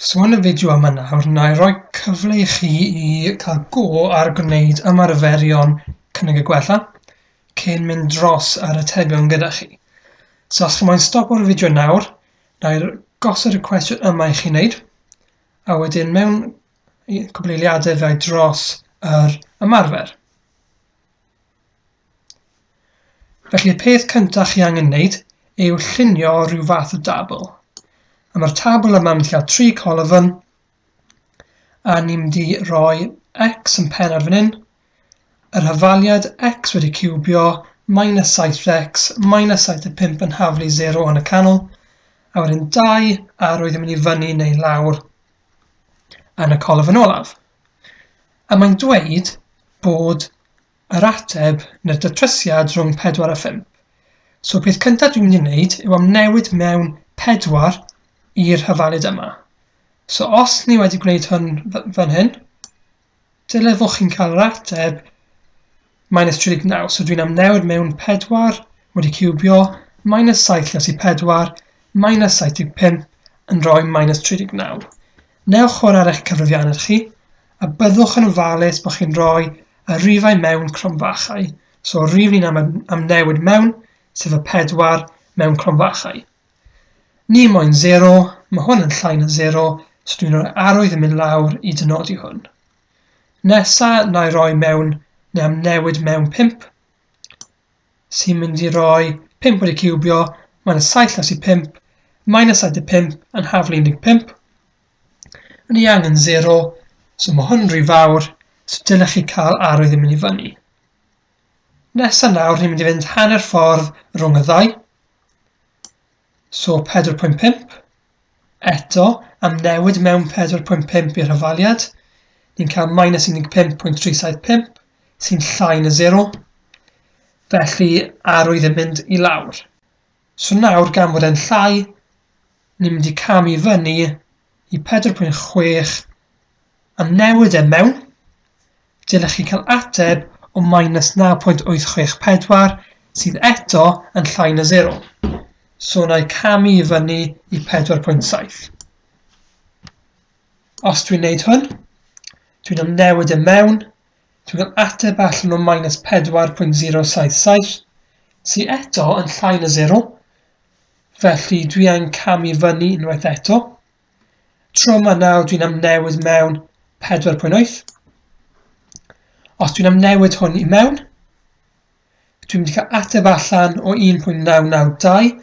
Swan y fideo am yna nawr, wna i roi cyfle i chi i cael go ar gwneud ymarferion cynnig y gwella cyn mynd dros yr atebion gyda chi. So os chi moyn stopo'r fideo nawr, wna i gosod y cwestiwn yma i chi wneud, a wedyn mewn cwbl eiliadau fe dros yr ymarfer. Felly y peth cyntaf chi angen wneud yw llunio rhyw fath o dabl. A mae'r tabl yma mynd llaw tri colofn, a ni'n mynd i roi x yn pen ar fan hyn, yr hyfaliad x wedi cubio, minus 7x, minus 75 yn haflu 0 yn y canol, a wedyn 2 arwydd yn mynd i fyny neu lawr yn y colofn olaf. A mae'n dweud bod Yr ateb, neu'r datrysiad rhwng pedwar a phump. So peth cyntaf dwi'n mynd i wneud yw amnewid mewn pedwar i'r hyfalid yma. So os ni wedi gwneud hwn fan hyn, dyle fo chi'n cael yr ateb minus 39. So dwi'n amnewid mewn pedwar wedi cywbio minus 7 lles i pedwar minus 75 yn rhoi minus 39. Newch hwn ar eich cyfrifiannau chi, a byddwch yn ofalus bod chi'n rhoi y rifau mewn cromfachau, so yr rif ni'n am, am newid mewn, sef y pedwar mewn cromfachau. Ni moyn 0, mae hwn yn llai na 0, so dwi'n rhoi arwydd yn mynd lawr i dynodi hwn. Nesa, na i roi mewn, neu am newid mewn 5, sy'n mynd i roi 5 wedi ciwbio, mae'n y 7 las i 5, minus 75 yn haflu 15, Yn ni angen zero, so mae hwn rhy fawr, so dylech chi cael arwydd yn mynd i fyny. Nesa nawr, ni'n mynd i fynd hanner ffordd rhwng y ddau. So 4.5. Eto, am newid mewn 4.5 i'r hyfaliad, ni'n cael minus 15.375, sy'n llai na 0. Felly, arwydd yn mynd i lawr. So nawr gan fod e'n llai, ni'n mynd i camu i fyny i 4.6 a newid e mewn. Dylech chi cael ateb o minus 9.864 sydd eto yn llai na 0. So na i camu i fyny i 4.7. Os dwi'n neud hwn, dwi'n am newid e mewn, Dwi'n cael ateb allan o minus 4.077, sy eto yn llai na 0, felly dwi angen camu fyny unwaith eto. Tro yma nawr dwi'n amnewid mewn 4.8. Os dwi'n amnewid hwn i mewn, dwi'n mynd i cael ateb allan o 1.992.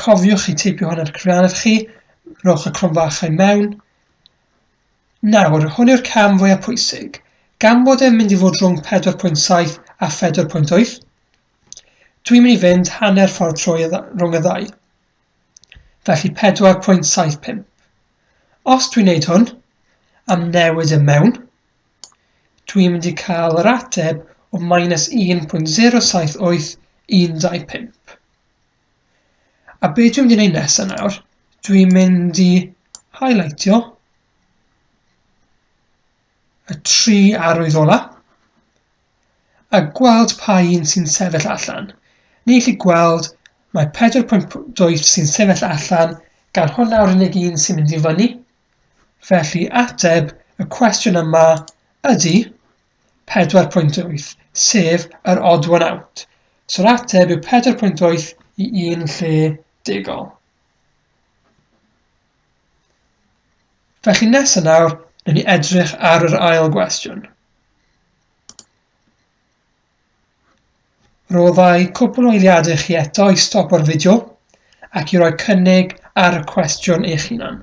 Cofiwch chi teipio hwn ar cyfrianedd chi, rhowch y cronfachau mewn, Nawr, hwn yw'r cam fwyaf pwysig, gan bod e'n mynd i fod rhwng 4.7 a 4.8, dwi'n mynd i fynd hanner ffordd trwy rhwng y ddau. Felly 4.75. Os dwi'n neud hwn, am newid y mewn, dwi'n mynd i cael yr ateb o minus 1.078 125. A be dwi'n mynd i wneud nesaf nawr, dwi'n mynd i highlightio y tri arwydd ola a gweld pa un sy'n sefyll allan. Ni chi gweld mae 4.2 sy'n sefyll allan gan hwnna'r unig un sy'n mynd i fyny. Felly ateb y cwestiwn yma ydy 4.8, sef yr odd one out. So'r ateb yw 4.8 i un lle degol. Felly nesaf nawr, newn ni edrych ar yr ail gwestiwn. Roddau cwpl o eiliadau chi eto i stop o'r fideo ac i roi cynnig ar y cwestiwn eich hunan.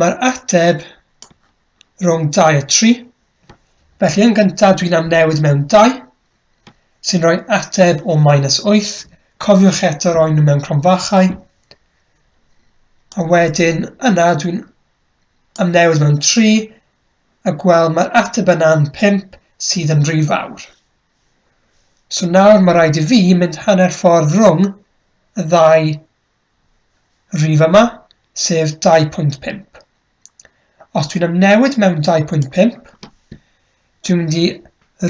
Mae'r ateb rhwng 2 a 3. Felly yn gyntaf dwi'n amnewid mewn 2, sy'n rhoi ateb o minus 8. Cofiwch eto roi nhw mewn cronfachau. A wedyn yna dwi'n amnewid mewn 3, a gweld mae'r ateb yna'n 5 sydd yn rhy fawr. So nawr mae rhaid i fi mynd hanner ffordd rhwng y ddau Rhif yma, sef 2.5. Os dwi'n ymnewid mewn 2.5, dwi'n mynd i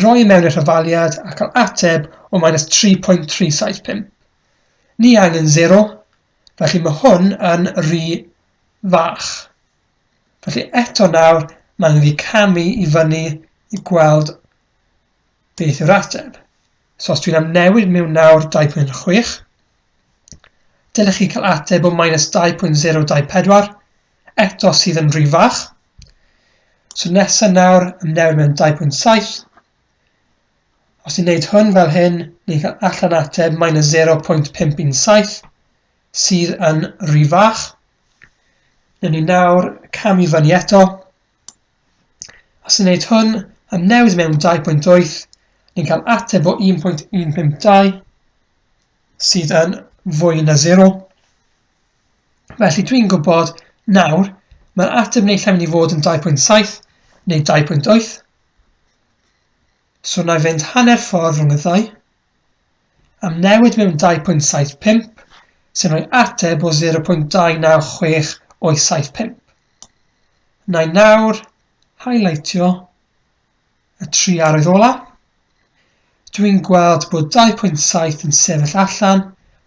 roi e mewn i'r hyfaliad a cael ateb o minus 3.375. Ni angen 0, felly mae hwn yn rhy fach. Felly eto nawr, mae'n rhy camu i fyny i gweld beth yw'r ateb. So os dwi'n amnewid mewn nawr 2.6, Dylech chi cael ateb o minus 2.024, eto sydd yn rhy fach. So nesaf nawr, ymnewid mewn 2.7. Os ni'n neud hwn fel hyn, ni'n cael allan ateb minus 0.517, sydd yn rhy fach. Newn ni nawr cam i fyny eto, Os ni'n neud hwn am newid mewn 2.8, ni'n cael ateb o 1.152 sydd yn fwy na 0. Felly dwi'n gwybod nawr mae'r ateb neu lle mynd i fod yn 2.7 neu 2.8. So na i fynd hanner ffordd rhwng y ddau. am newid mewn 2.75, sy'n rhoi ateb o 0.296 o'i 75. Na i nawr highlightio y tri arwydd ola. Dwi'n gweld bod 2.7 yn sefyll allan,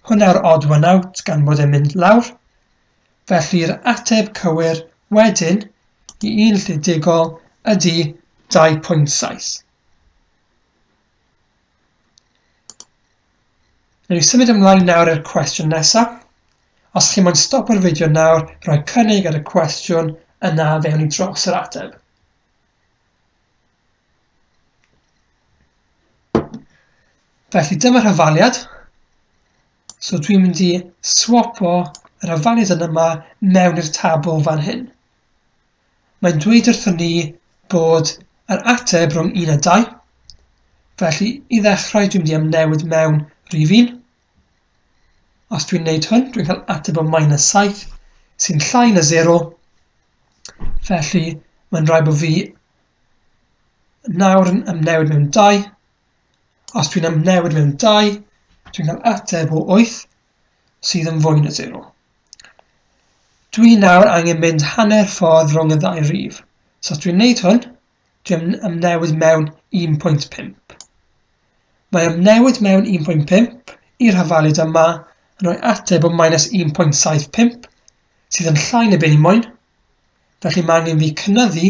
hwnna'r odd one out gan bod e'n mynd lawr. Felly'r ateb cywir wedyn i un lle digol ydy 2.7. Rydw i symud ymlaen nawr i'r cwestiwn nesaf. Os chi moyn stopio'r fideo nawr, rhoi cynnig ar y cwestiwn, yna fe wn i dros yr ateb. Felly dyma rhyfaliad. So dwi'n mynd i swapo yr hyfaliad yn yma mewn i'r tabl fan hyn. Mae'n dweud wrthon ni bod yr ateb rhwng un a dau. Felly, i ddechrau, dwi'n mynd i amnewid mewn rhif un. Os dwi'n neud hwn, dwi'n cael ateb o minus 7, sy'n llai na 0. Felly, mae'n rhaid bod fi nawr yn amnewid mewn 2. Os dwi'n amnewid mewn 2, dwi'n cael ateb o 8, sydd yn fwy na sero. Dwi nawr angen mynd hanner ffordd rhwng y ddau rif. So os dwi'n neud hwn, dwi'n ymnewid mewn 1.5. Mae ymnewid mewn 1.5 i'r hafalid yma yn rhoi ateb o minus 1.75 sydd yn llai na beth ni moyn, felly mae angen fi cynyddu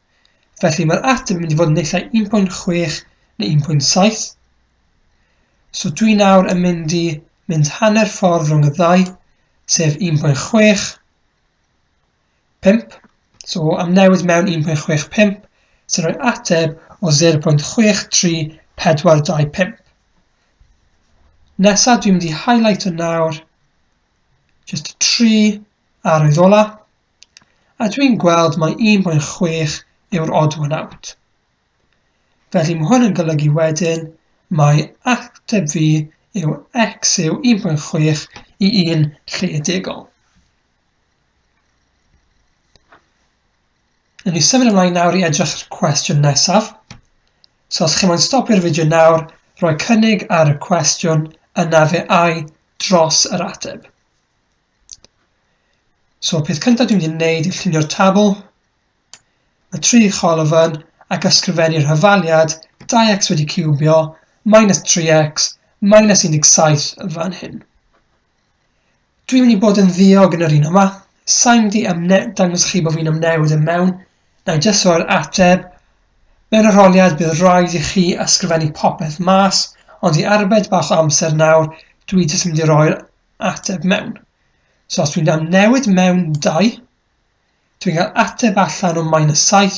Felly mae'r ateb yn mynd i fod yn nillai 1.6 neu 1.7. So dwi nawr yn mynd i mynd hanner ffordd rhwng y ddau, sef 1.6, 5. So am newid mewn 1.65 sy'n rhoi ateb o 0.63425. Nesa dwi'n mynd i highlight o nawr just 3 arwydd ola. A dwi'n gweld mai 1.6 yw'r odd one out. Felly mae hwn yn golygu wedyn mae ateb fi yw x yw 1.6 i 1 lle degol. Yn ni symud ymlaen nawr i edrych ar cwestiwn nesaf. So os chi moyn stopio'r fideo nawr, rhoi cynnig ar y cwestiwn, yna fe ai dros yr ateb. So, peth cyntaf dwi'n mynd i wneud yw llunio'r tabl. Mae tri cholofn fan ac ysgrifennu'r hyfaliad 2x wedi cubio minus 3x minus 17 fan hyn. Dwi'n mynd i bod yn ddiog yn yr un yma. Sa'n mynd i ymne dangos chi bod fi'n ymnewid yn mewn. Na i jyst roi'r ateb. Mewn arholiad bydd rhaid i chi ysgrifennu popeth mas, ond i arbed bach o amser nawr, dwi jyst mynd i roi'r ateb mewn. So os dwi'n cael newid mewn 2, dwi'n cael ateb allan o minus 7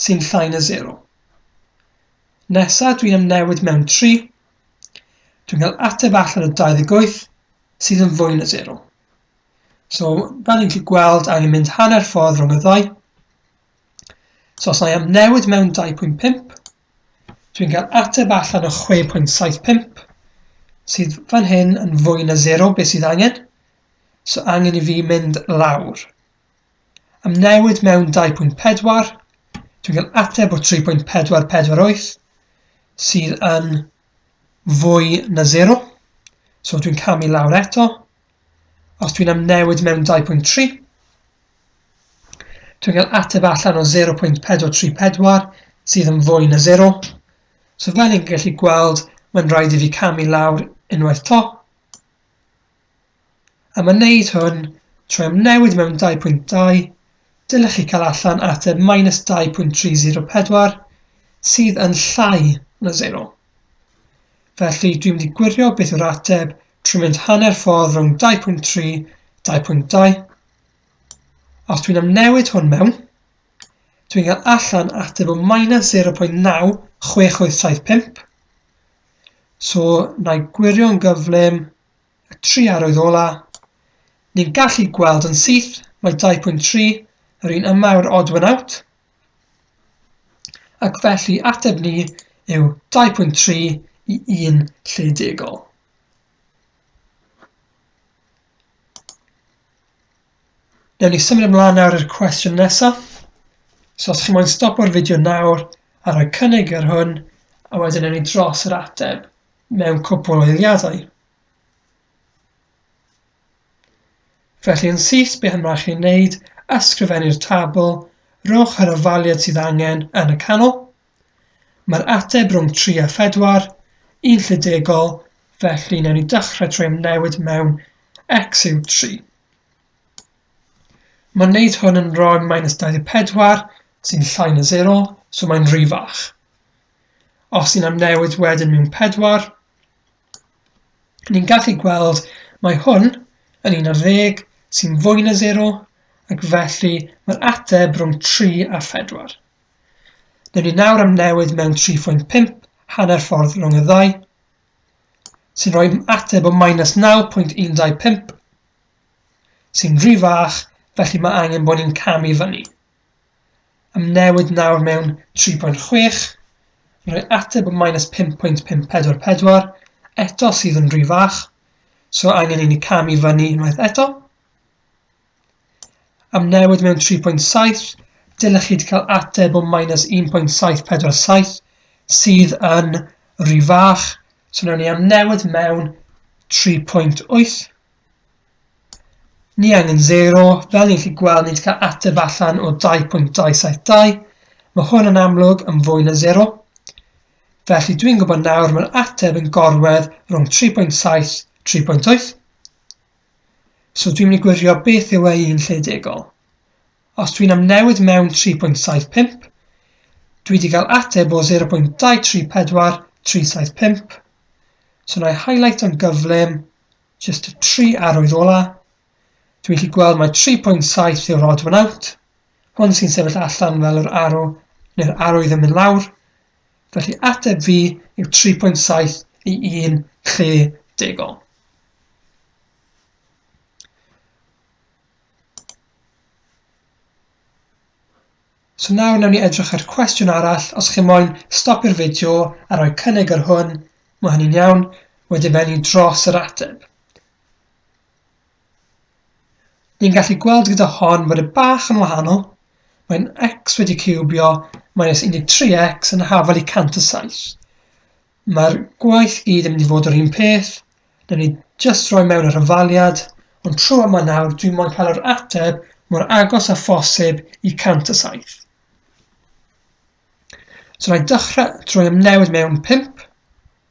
sy'n llai na 0. Nesa dwi'n am newid mewn 3, dwi'n cael ateb allan o 28 sydd yn fwy na 0. So, fel ni'n gallu gweld, angen mynd hanner ffordd rhwng y ddau. So, os na i am newid mewn 2.5, Dwi'n cael ateb allan o 6.75, sydd fan hyn yn fwy na zero beth sydd angen, so angen i fi mynd lawr. Am newid mewn 2.4, dwi'n cael ateb o 3.448, sydd yn fwy na zero, so dwi'n camu lawr eto, Os dwi'n am newid mewn 2.3, dwi'n cael ateb allan o 0.434 sydd yn fwy na 0. So fel ni'n gallu gweld, mae'n rhaid i fi camu lawr unwaith to. A mae'n neud hwn trwy am newid mewn 2.2, dylech chi cael allan ateb minus 2.304 sydd yn llai na 0. Felly dwi'n mynd i gwirio beth yw'r ateb Trwy mynd hanner ffordd rhwng 2.3, 2.2, a os dwi'n amnewid hwn mewn, dwi'n cael allan ateb o minus 0.96875. So, na i gwirio'n gyflym y tri arwydd ola. Ni'n gallu gweld yn syth mae 2.3 yr un yma yw'r odd one out, ac felly ateb ni yw 2.3 i 1 lle degol. Newn ni symud ymlaen nawr i'r cwestiwn nesaf. So os chi'n moyn stopio'r fideo nawr a rhoi cynnig ar hwn, a wedyn newn ni dros yr ateb mewn cwpl o eiliadau. Felly yn syth, beth yma chi'n neud, ysgrifennu'r tabl, rhowch yr ofaliad sydd angen yn y canol, Mae'r ateb rhwng tri a phedwar yn llidegol, felly wnawn ni dechrau trwy amnewid mewn x yw 3. Mae'n gwneud hwn yn rhoi minus 24 sy'n llai na 0, so mae'n rhy fach. Os ni'n amnewid wedyn mewn 4, ni'n gallu gweld mae hwn yn 11 sy'n fwy na 0 ac felly mae'r ateb rhwng 3 a phedwar. Newn ni nawr am newid mewn 3.5, hanner ffordd rhwng y ddau, sy'n rhoi ateb o minus 9.125, sy'n rhy fach, felly mae angen bod ni'n camu fyny. Am newid nawr mewn 3.6, yn rhoi ateb o minus 5.544, eto sydd yn rhy fach, so angen i ni camu fyny unwaith eto. Am newid mewn 3.7, dylech chi cael ateb o minus 1.747 sydd yn rhy fach. So newn ni am newid mewn 3.8. Ni angen 0, fel ni'n chi gweld ni'n cael ateb allan o 2.272. Mae hwn yn amlwg yn fwy na 0. Felly dwi'n gwybod nawr mae'r ateb yn gorwedd rhwng 3.7, 3.8. So dwi'n mynd i gwirio beth yw e un lle degol. Os dwi'n amnewid mewn 3.75, dwi wedi cael ateb o 0.234 375. So na i highlight yn gyflym, just y tri arwydd ola. Dwi'n gallu gweld mae 3.7 yw'r odd one out. Hwn sy'n sefyll allan fel yr arw, neu'r arwydd yn mynd lawr, Felly ateb fi yw 3.7 i 1 lle degol. So nawr nawn ni edrych ar cwestiwn arall. Os chi moyn stopio'r fideo a rhoi cynnig ar hwn, mae hynny'n iawn. Wedyn fe ni dros yr ateb. Ni'n gallu gweld gyda hon fod e bach yn wahanol. Mae'n x wedi ciwbio minus 13x yn hafel i 107. Mae'r gwaith gyd yn mynd i fod yr un peth. Newn ni just roi mewn yr ymfaliad, ond trwy yma nawr dwi'n mo'n cael yr ateb mor agos a phosib i 107. So na i dechrau trwy ymnewid mewn 5,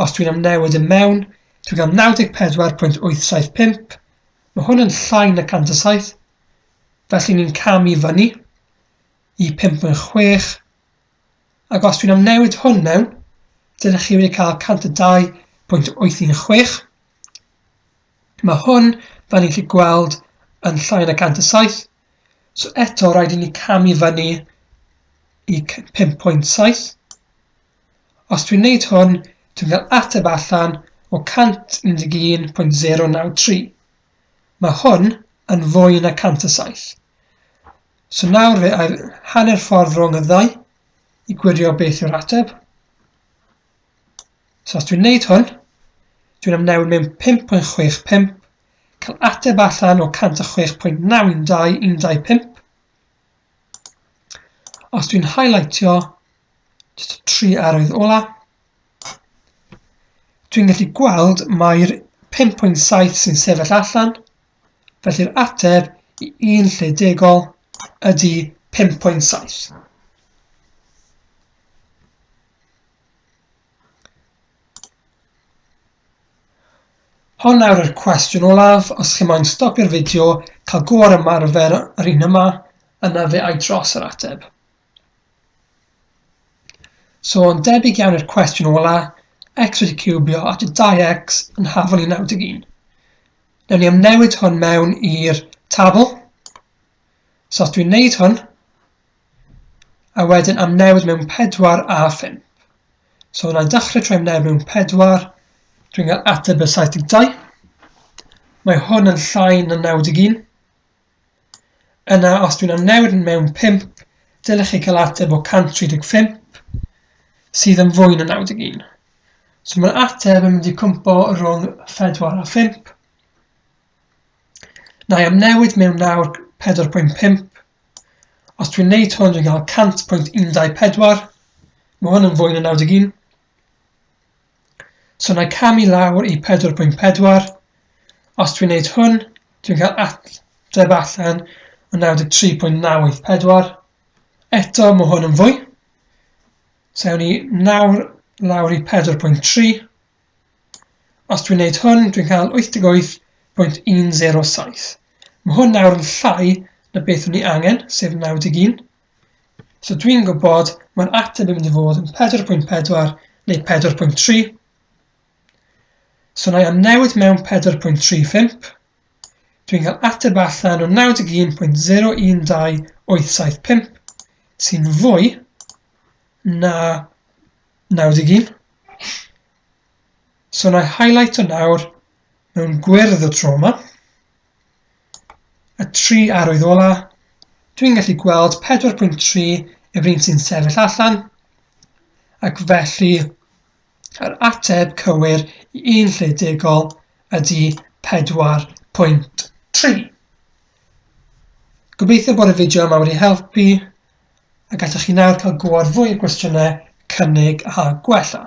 Os dwi'n am newid yn mewn, dwi'n cael 94.875, mae hwn yn llai na 107, felly ni'n cam i fyny i 5.6, ac os dwi'n am newid hwn mewn, dydych chi wedi cael 102.816. Mae hwn, fel ni'n chi gweld, yn llai na 107, so eto rhaid i ni cam i fyny i 5.7, Os dwi'n neud hwn, dwi'n cael ateb allan o 111.093. Mae hwn yn fwy na 107. So nawr fe air hanner ffordd rhwng y ddau i gwirio beth yw'r ateb. So os dwi'n neud hwn, dwi'n amnewid mewn 5.65, cael ateb allan o 106.92125. Os dwi'n highlightio just y tri arwydd ola, dwi'n gallu gweld mae'r 5.7 sy'n sefyll allan, felly'r ateb i un lle degol ydy 5.7. Hon nawr yw'r cwestiwn olaf, os chi moyn stopio'r fideo, cael go ar ymarfer yr un yma, yna fe ai dros yr ateb. So yn debyg iawn i'r cwestiwn ola, x wedi cubio at y 2x yn hafol i 91. Newn ni am newid hwn mewn i'r tabl. So os dwi'n neud hwn, a wedyn am newid mewn 4 a 5. So wna i dechrau trwy wneud mewn pedwar. Dwi'n cael ateb y 72. Mae hwn yn llai na 91. Yna, os dwi'n am newid yn mewn 5, dylech chi cael ateb o 135, sydd yn fwy na 91. So mae'r ateb yn mynd i cwmpo rhwng 4 a 5. Na i am newid mewn nawr 4.5, Os dwi'n wneud hwn dwi'n cael 100.124, mae hwn yn fwy na 91. So na i camu lawr i 4.4. Os dwi'n wneud hwn, dwi'n cael ateb allan o 93.984. Eto mae hwn yn fwy. So ewn ni nawr lawr i 4.3. Os dwi'n neud hwn, dwi'n cael 88.107. Mae hwn nawr yn llai na beth o'n i angen, sef 91. So dwi'n gwybod mae'r ateb yn mynd i fod yn 4.4 neu 4.3. So na i am newid mewn 4.35. Dwi'n cael ateb allan o 91.012875 sy'n fwy na 91. So na i highlight o nawr mewn gwyrdd y tro yma. Y tri arwydd ola, dwi'n gallu gweld 4.3 yw'r un sy'n sefyll allan, ac felly yr ateb cywir i un lle degol ydy 4.3. Gobeithio bod y fideo yma wedi helpu a gallwch chi nawr cael gwodd fwy o gwestiynau, cynnig a gwella.